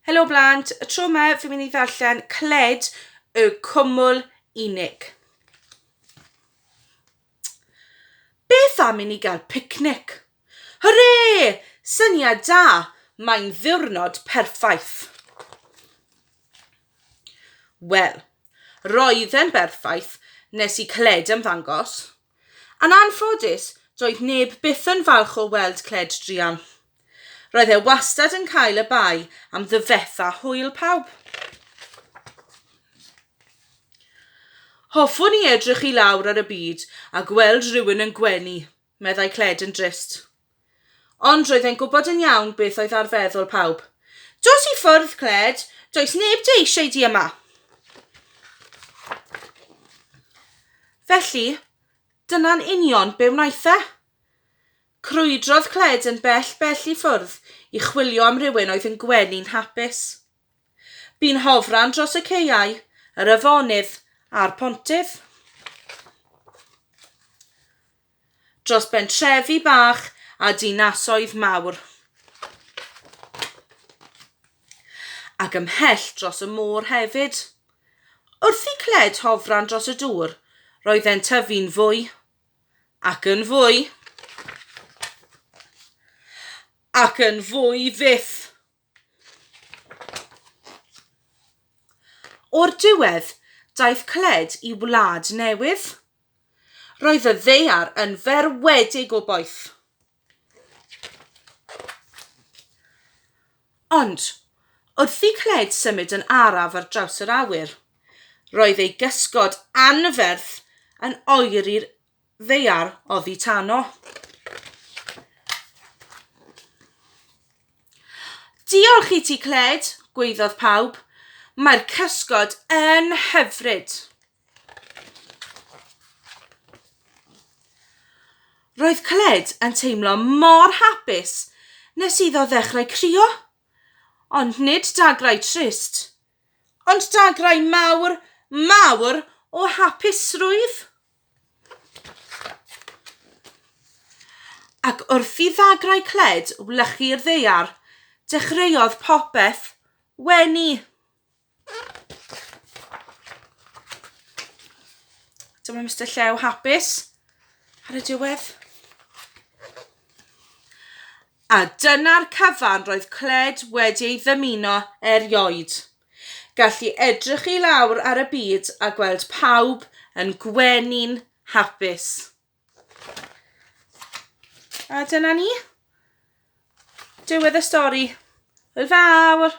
Helo blant, y tro yma fi'n mynd i ddarllen Cled y Cwmwl Unig. Beth am i ni gael picnic? Hwre! Syniad da! Mae'n ddiwrnod perffaith. Wel, Roedd e'n berffaith nes i Cled ymddangos. Yn anffodus, doedd neb byth yn falch o weld Cled druan. Roedd e wastad yn cael y bai am ddyfetha hwyl pawb. Hoffwn i edrych i lawr ar y byd a gweld rhywun yn gwenu, meddai Cled yn drist. Ond roedd e'n gwybod yn iawn beth oedd ar feddwl pawb. Dos i ffwrdd, Cled! Does neb di eisiau di yma! Felly, dyna'n union be wnaeth e. Crwydrodd Cled yn bell bell i ffwrdd i chwilio am rywun oedd yn gwenu'n hapus. Bu'n hofran dros y caeau, yr afonydd a'r pontydd. Dros bentrefi bach a dinasoedd mawr. Ac ymhell dros y môr hefyd. Wrth i cled hofran dros y dŵr, roedd e'n tyfu'n fwy ac yn fwy ac yn fwy fyth. O'r diwedd, daeth Cled i wlad newydd. Roedd y ddaear yn ferwedig o boeth. Ond, wrth i Cled symud yn araf ar draws yr awyr, roedd ei gysgod anferth yn oeri'r ddaear oddi tano. Diolch i ti, Cled, gweiddodd pawb. Mae'r cysgod yn hyfryd. Roedd Cled yn teimlo mor hapus nes iddo ddechrau crio. Ond nid dagrau trist Ond dagrau mawr, mawr o hapusrwydd. Ac wrth i ddagrau cled wlychu'r ddaear, dechreuodd popeth wenu. Dyma Mister Llew hapus ar y diwedd. A dyna'r cyfan roedd Cled wedi ei ddymuno erioed, gallu edrych i lawr ar y byd a gweld pawb yn gwenu'n hapus. A dyna ni. Diwedd y stori. Hwyl fawr!